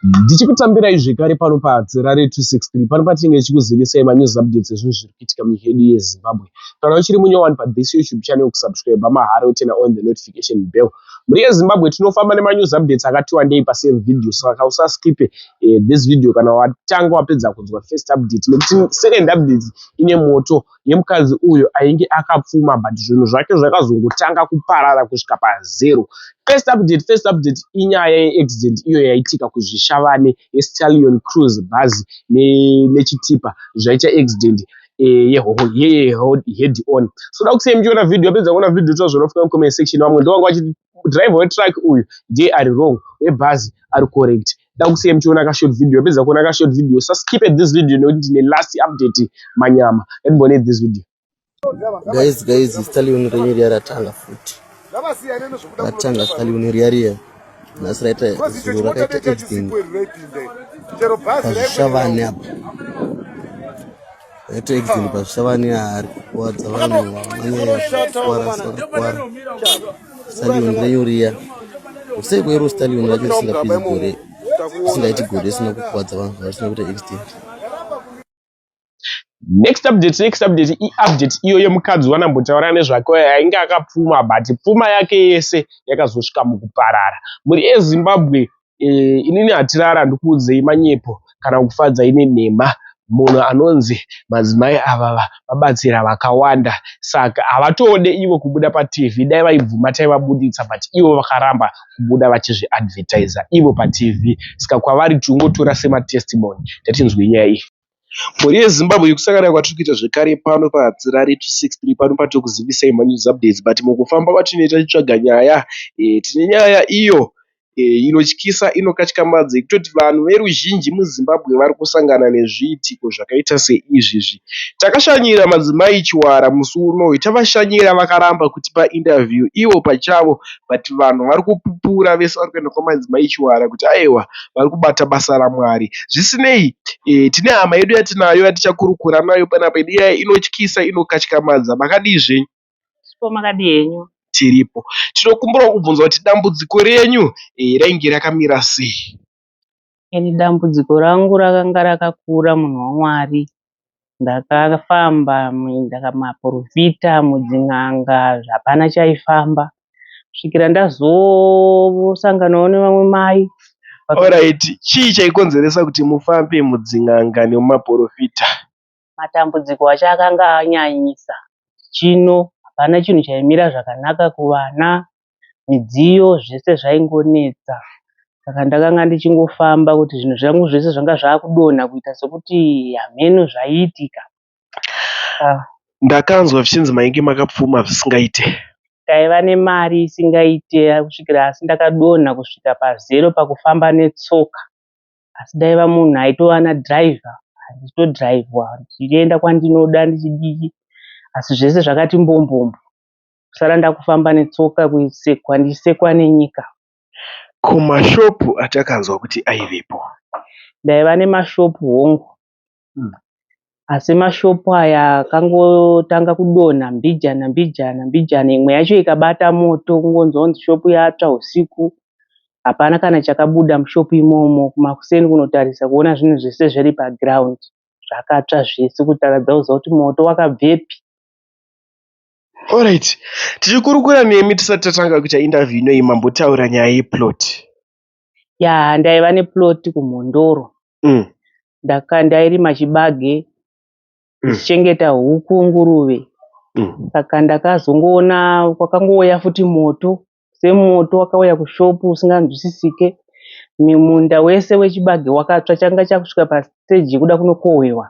ndichikutambirai zvekare pano patsera re 263 pano patinenge tichikuzivisai manews updates ezvinhu zviri kuitika muhedu yezimbabwe kana uchiri munyowani pathis youtube channel kusubscribe mahara utena on the notification bell mhuri yezimbabwe tinofamba nemanews updates akati wandei pasame video saka usaskipe eh, this video kana watanga wapedza kunzwa first update nekuti second update ine moto yemukadzi uyo ainge akapfuma but zvinhu zvake zvakazongotanga kuparara kusvika pazero first update first update inyaya yeaccident iyo yaitika kuzvishavane yestalion cruise bhazi nechitipa zvaita accident yehead on so da kusei muchiona video apedza kuona video toa zvinofuka mucomment section vamwe ndovanga vachiti driver wetruck uyu ndiye ari wrong webhazi ari correct ndakusiya muchiona ka short video peza kuona ka short video sa skip at this video nekuti ndine last update manyama let me bonate this video guys guys stali une renyu riya ratanga futi ratanga stali une riya riya nhasi raita zuro rakaita editing pazvishavane apa Exile pazvichava neari kuwadza vanhu vamanyekuwarasakwara stallion renyu riya usei kwero stallion racho risingapedzi gore risingaiti gore risina kukuwadza vanhu varisina kuita extent next update next update iupdate iyo yemukadzi wanambotaura nezvake ainge akapfuma but pfuma yake yese yakazosvika mukuparara mhuri yezimbabwe eh, inini hatirara ndikuudzei manyepo kana kufadza ine nhema munhu anonzi madzimai avava vabatsira vakawanda saka havatode ivo kubuda patv dai vaibvuma taivabuditsa but ivo vakaramba kubuda vachizviadvertiser ivo patv saka kwavari tingotora sematestimony tatinzwe nyaya iyi Mhuri yeZimbabwe yekusangana kwatiri kuita zvekare pano paHadzirare 263 pano patiri kuzivisai manews updates but mukufamba kwatinoita tichitsvaga nyaya eh, tine nyaya iyo eh, inotyisa inokatyamadza yekutoti vanhu veruzhinji muZimbabwe vari kusangana nezviitiko zvakaita seizvi izvi. Takashanyira madzimai Chiwara musi uno tavashanyira vakaramba kutipa interview ivo pachavo but vanhu vari kupupura vese vari kuenda Kuna madzimai Chiwara kuti aewa vari kubata basa raMwari zvisinei tine hama yedu yatinayo yatichakurukura nayo panapa yedu iya inotyisa inokatyamadza makadii zvenyu tiripo makadii henyu tiripo tinokumbirawo kubvunza kuti dambudziko renyu rainge rakamira sei. Ini dambudziko rangu rakanga rakakura munhu waMwari. Ndakafamba maporofita, mudzin'anga hapana chaifamba kusvikira ndazosanganawo nevamwe mai. Alright, chii chaikonzeresa kuti mufambe mudzin'anga nemumaporofita? Matambudziko acho akanga anyanyisa. Chino hapana chinhu chaimira zvakanaka kuvana, midziyo zvese zvaingonetsa saka ndakanga ndichingofamba kuti zvinhu zvangu zvese zvanga zvakudonha kuita sekuti hameno zvaiitika. Ndakanzwa zvichinzi mainge makapfuma zvisingaite. Taiva nemari isingaite kusvikira asi ndakadonha kusvika pazero pakufamba netsoka asi ndaiva munhu aitova nadriver ndichitodhiraivhwa ndichienda kwandinoda ndichidii asi zvese zvakati mbombombo. kusara ndakufamba netsoka kusekwa ndichisekwa nenyika. Ko mashop atakanzwa kuti aivepo. Ndaiva nemashop hongu asi mashop aya akangotanga kudonha mbijana mbijana mbijana imwe yacho ikabata moto kungonzwa kunzi shop yatsva usiku hapana kana chakabuda mushop imomo kumakuseni kunotarisa kuona zvinhu zvese zviri paground zvakatsva zvese kutaradza kuziva kuti moto wakabvepi Alright tichikurukura nemi tisati tatanga kuita interview inoyi mambotaura nyaya ye plot. Yaa ndaiva ne plot ku Mhondoro umm ndaka ndairima chibage ndichichengeta huku nguruve saka ndakazongoona kwakangouya futi moto semoto wakauya kushop usinganzwisisike. Munda wese wechibage wakatsva changa chakusvika pa stage yekuda kunokohwewa.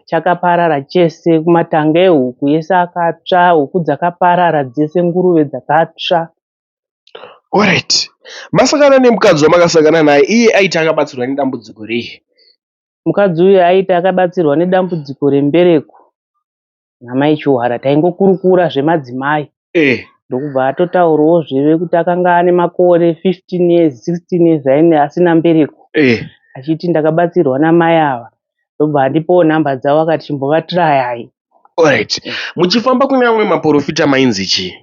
Chakaparara chese kumatanga ehuku ese akatsva, huku dzakaparara dzese, nguruve dzakatsva. Alright. Masangana nemukadzi wamakasangana naye, iye aiti akabatsirwa nedambudziko rei? Mukadzi uyu aiti akabatsirwa nedambudziko rembereko. namai Chiwara taingokurukura zvemadzimai eh. ndokubva atotaurawo zveve kuti akanga ane makore 15 years 16 years aine asina mbereko eh. achiti ndakabatsirwa namai ava ndobva andipowo nhamba dzavo akati chimbovatirayai Alright. Muchifamba kune amwe maporofita mainzi chii?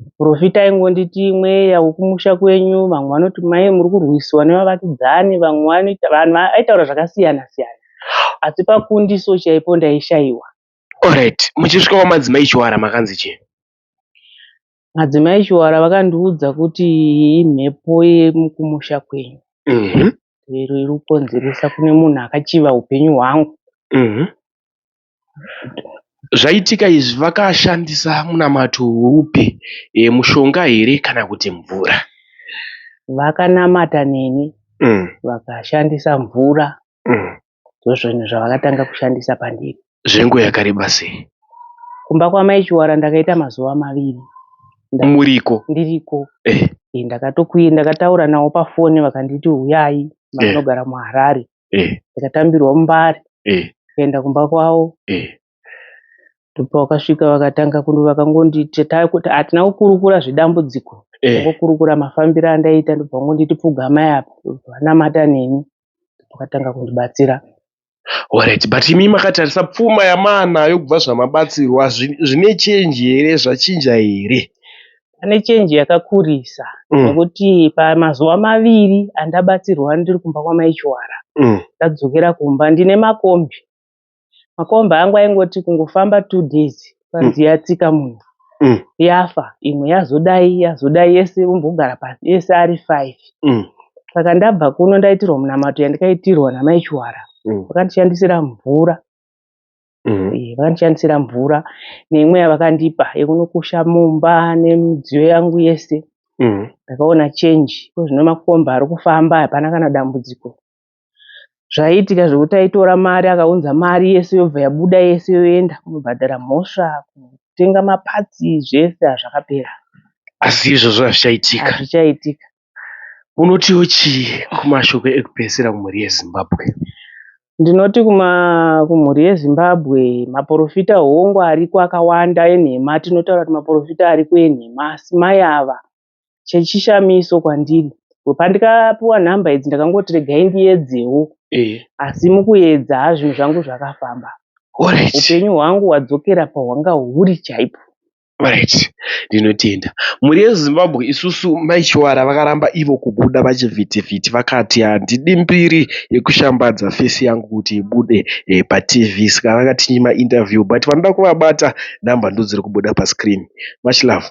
Muporofita aingonditi mweya wekumusha kwenyu vamwe vanoti mai muri kurwisiwa nevavakidzani vamwe vanoita vanhu aitaura zvakasiyana siyana asi pakundiso chaipo ndaishaiwa. Alright muchisvika kwamadzimai Chiwara makanzi chii? Madzimai Chiwara vakandiudza kuti imhepo yekumusha kwenyu mm -hmm. iri kukonzeresa kune munhu akachiva upenyu hwangu mm -hmm. Zvaitika izvi vakashandisa munamato upi mushonga here kana kuti mvura. Vakanamata neni vakashandisa mvura ndozvinhu zvavakatanga kushandisa pandiri. Zvenguva yakareba sei. Kumba kwamai Chiwara ndakaita mazuva maviri muriko ndiriko ndakatokwira ndakataura navo pafoni vakanditi huyai matinogara muHarare. eh. ndikatambirwa mumbare eh. ndikaenda eh. kumba kwavo eh. ndopavakasvika vakatanga kuno vakangonditi hatina kukurukura zvedambudziko eh. ngokurukura mafambiro andaita ndobva vangonditi pfugamai apa vanamata neni vakatanga kundibatsira Alright, but imi makatarisa pfuma yamaanayo kubva zvamabatsirwa zvine change here zvachinja here Pane chenji yakakurisa mm. nekuti mm. pamazuva maviri andabatsirwa ndiri kumba kwamaichiwara mm. ndadzokera kumba ndine makombi makombi angu aingoti kungofamba two days panzi mm. yatsika munhu mm. yafa imwe yazodai yazodai yese umbogara pasi yese ari five mm. saka ndabva kuno ndaitirwa munamato yandikaitirwa namaichiwara mm. vakandishandisira mvura mm. eh, vakandishandisira mvura neimwe yavakandipa yekunokusha mumba nemidziyo yangu yese mm. ndakaona change ko zvino makomba ari kufamba hapana kana dambudziko zvaiitika zvekuti taitora mari akaunza mari yese yobva yabuda yese yoenda kunobhadhara mhosva kutenga mapatsi zvese hazvakapera asi izvozvo hazvichaitika hazvichaitika Unotiwo chii kumashoko ekupedzisira kumhuri yeZimbabwe? Ndinoti kuma kumhuri yeZimbabwe maporofita hongu ariko akawanda enhema atinotaura kuti maporofita ariko enhema asi mai ava chechishamiso kwandiri pandikapiwa nhamba idzi ndakangoti regai ndiyedzewo Eh, asi mukuedza haa zvinhu zvangu zvakafamba alright. upenyu hwangu hwadzokera pahwanga huri chaipo Alright ndinotenda. Mhuri yeZimbabwe isusu mai Chiwara vakaramba ivo kubuda pachivhiti vhiti vakati handidi mbiri yekushambadza face yangu kuti ibude paTV saka vakatinyima interview but vanoda kuvabata number ndodziri kubuda pascreen. Much love.